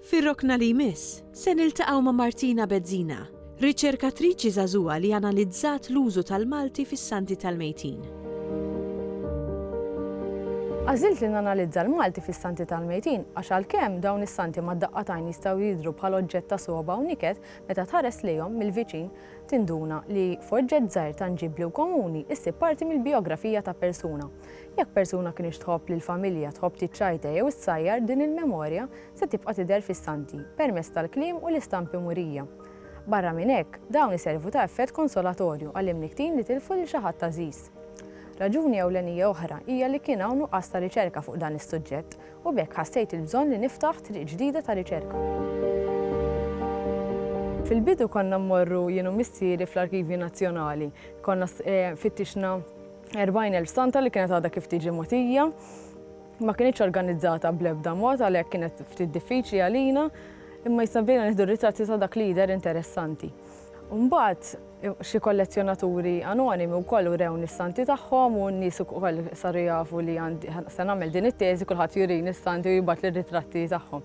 Fir-rokna li jmiss, se niltaqgħu ma' Martina Bezzina, riċerkatriċi żagħżugħa li analizzat l-użu tal-Malti fis-Santi tal-Mejtin. Għażilt li nanalizza l-Malti fis-Santi tal-Mejtin għax għalkemm dawn is-Santi mad-daqqa t'għajn jistgħu jidhru bħal oġġett ta' sogħba u niket, meta tħares lejhom mill-viċin tinduna li f'oġġett żgħir tanġibbli u komuni ssib parti mill-bijografija ta' persuna. Jekk persuna kinitx tħobb lill-familja, tħobb tiċċajta jew issajjar, din il-memorja se tibqa' tidher fis-Santi, permezz tal-kliem u l-istampi murija. Barra minn hekk, dawn iservu ta' effett konsolatorju għall-imnikktin li tilfu lil xi ħadd għażiż. Raġuni ewlenija oħra hija li kien hawn nuqqas ta' riċerka fuq dan is-suġġett, u b'hekk ħassejt il-bżonn li niftaħ triq ġdida ta' riċerka. Fil-bidu konna mmorru jien u missieri fl-Arkivju Nazzjonali. Konna fittixna 40,000 stanta li kienet għadha kif tiġi mogħtija ma kinitx organizzata bl-ebda mod għalhekk kienet ftit diffiċli għalina imma jista' bdejna nieħdu ritratti ta' dak li jidher interessanti. Mbagħad xi kollezzjonaturi anonimi wkoll urew nis-santi tagħhom u n-nies ukoll saru jafu li se nagħmel din it-teżi kulħadd jurini s-santi u jibgħat lir-ritratti tagħhom.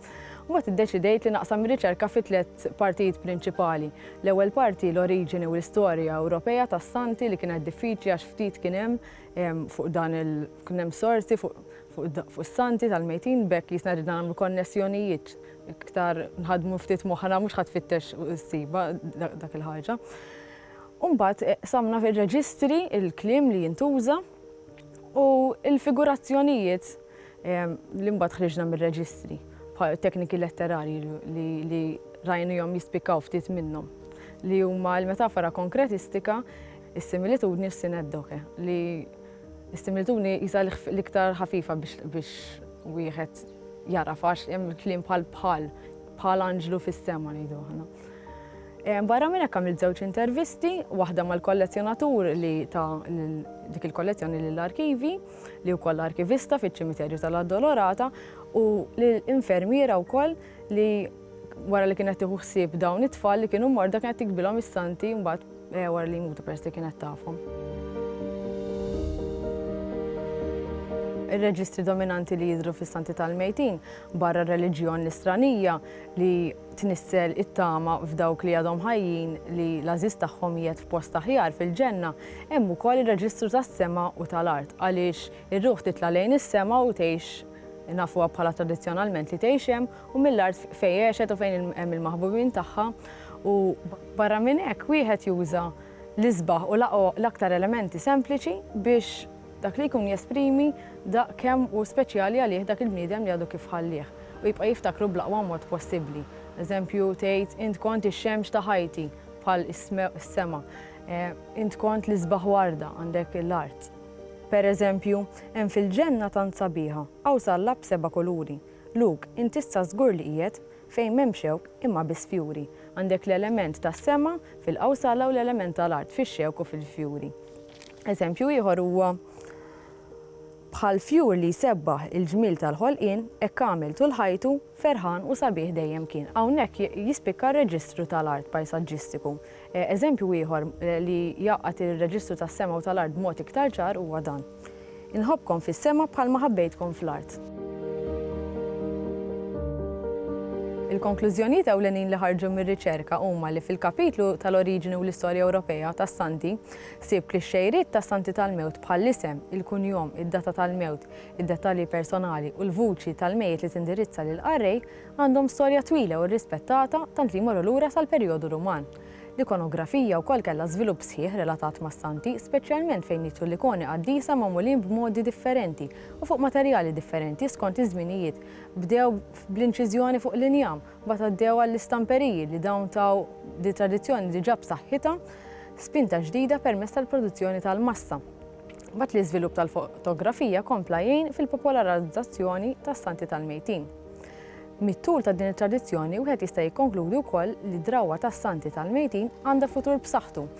Mbagħad iddeċidejt li naqsam ir-riċerka fi tliet partijiet prinċipali. L-ewwel parti l-oriġini u l-istorja Ewropea tas-Santi li kienet diffiċli għax ftit kien hemm ehm, fuq dan il kien hemm sorsi fuq fuq is-santi tal-mejtin bekk jisna ridna nagħmlu konnessjonijiet iktar nħadmu ftit moħħna mhux ħadd fittex s-siba dak il-ħaġa. Umbat eh, samna fil-reġistri il-klim li jintuża u il-figurazzjonijiet li mbagħad ħriġna mir-reġistri, bħal tekniki letterarji li rajnihom jispikkaw ftit minnhom, li huma l-metafora konkretistika, is-similitudni u s-sineddoke, li s-similitudni jisa l-iktar ħafifa biex wieħed jara fax hemm kliem bħal bħal bħal anġlu fis-sema ngħidu aħna. Eh, barra minn hekk għamilt żewġ intervisti, waħda mal-kollezzjonatur li ta' dik il-kollezzjoni lill-arkivi, li wkoll arkivista fiċ-ċimiterju tal-Addolorata u lil infermiera wkoll li wara li kienet tieħu ħsieb dawn it-tfal li kienu morda kienet tikbilhom is-santi mbagħad eh, wara li jmutu peress li kienet tafhom. Ir-reġistri dominanti li jidhru fis-santi tal-mejtin barra r-reliġjon l-istranija li tnissel it-tama f'dawk li għadhom ħajjin li l-għażiż tagħhom qiegħed f'post aħjar fil-Ġenna, hemm ukoll ir-reġistru tas-sema u tal-art, għaliex ir-ruħ titla' lejn is-sema u tgħix, nafuha bħala tradizzjonalment li tgħix hemm, u mill-art fejn għexet u fejn hemm il-maħbubin tagħha, u. Barra minn hekk, wieħed juża l-isbaħ u l-aktar elementi sempliċi biex. Dak li jkun jesprimi daqq kemm hu speċjali għalih dak il-bniedem li għadu kif ħallieh, u jibqa' jiftakru bl-aqwa mod possibbli. Eżempju, tgħid, Int kont ix-xemx ta' ħajti, bħal is-sema. Int kont l-isbaħ warda, għandek l-art. Pereżempju, Hemm fil-ġenna tant sabiħa, hawn salla b'seba' kuluri. Lug, Int issa żgur li qiegħed fejn m'hemm xewk, imma biss fjuri. Għandek l-element tas-sema fil-qawsala u l-element tal-art fix-xewk u fil-fjuri. Eżempju ieħor huwa, Bħal fjur li jsebbaħ il-ġmiel tal-ħolqien, hekk għamel tul ħajtu, ferħan u sabiħ dejjem kien. Hawnhekk jispikka r-reġistru tal-art pajsaġġistiku. Eżempju ieħor li jgħaqqad ir-reġistru tas-sema u tal-art b'mod iktar ċar huwa dan, Inħobbkom fis-sema bħalma ħabbejtkom fl-art. Il-konklużjonijiet ewlenin li ħarġu mir-riċerka huma li fil-kapitlu tal-Oriġini u l-Istorja Ewropea tas-Santi, Ħsieb li x-xejriet ta' Santi tal-Mewt bħall-isem, il-kunjom, id-data tal-mewt, id-dettalji personali u l-vuċi tal-mejjet li tindirizza lill-qarrej għandhom storja twila u rrispettata tant li jmorru lura sal-perjodu Ruman. L-ikonografija wkoll kellha żvilupp sħiħ relatat mas-Santi, speċjalment fejn jidhru l-ikoni qaddisa magħmulin b'modi differenti u fuq materjali differenti skont iż-żminijiet, bdew bl-inċiżjoni fuq l-injam, Mbagħad għaddew għall-istamperiji li dawn taw lil tradizzjoni diġà b'saħħitha spinta ġdida permezz tal-produzzjoni tal-massa. Mbagħad l-iżvilupp tal-fotografija kompla jgħin fil-popolarizzazzjoni tas-santi tal-mejtin. Mit-tul ta' din it-tradizzjoni wieħed jista' jikkonkludi wkoll li d-drawwa tas-santi tal-mejtin għandha futur b'saħħtu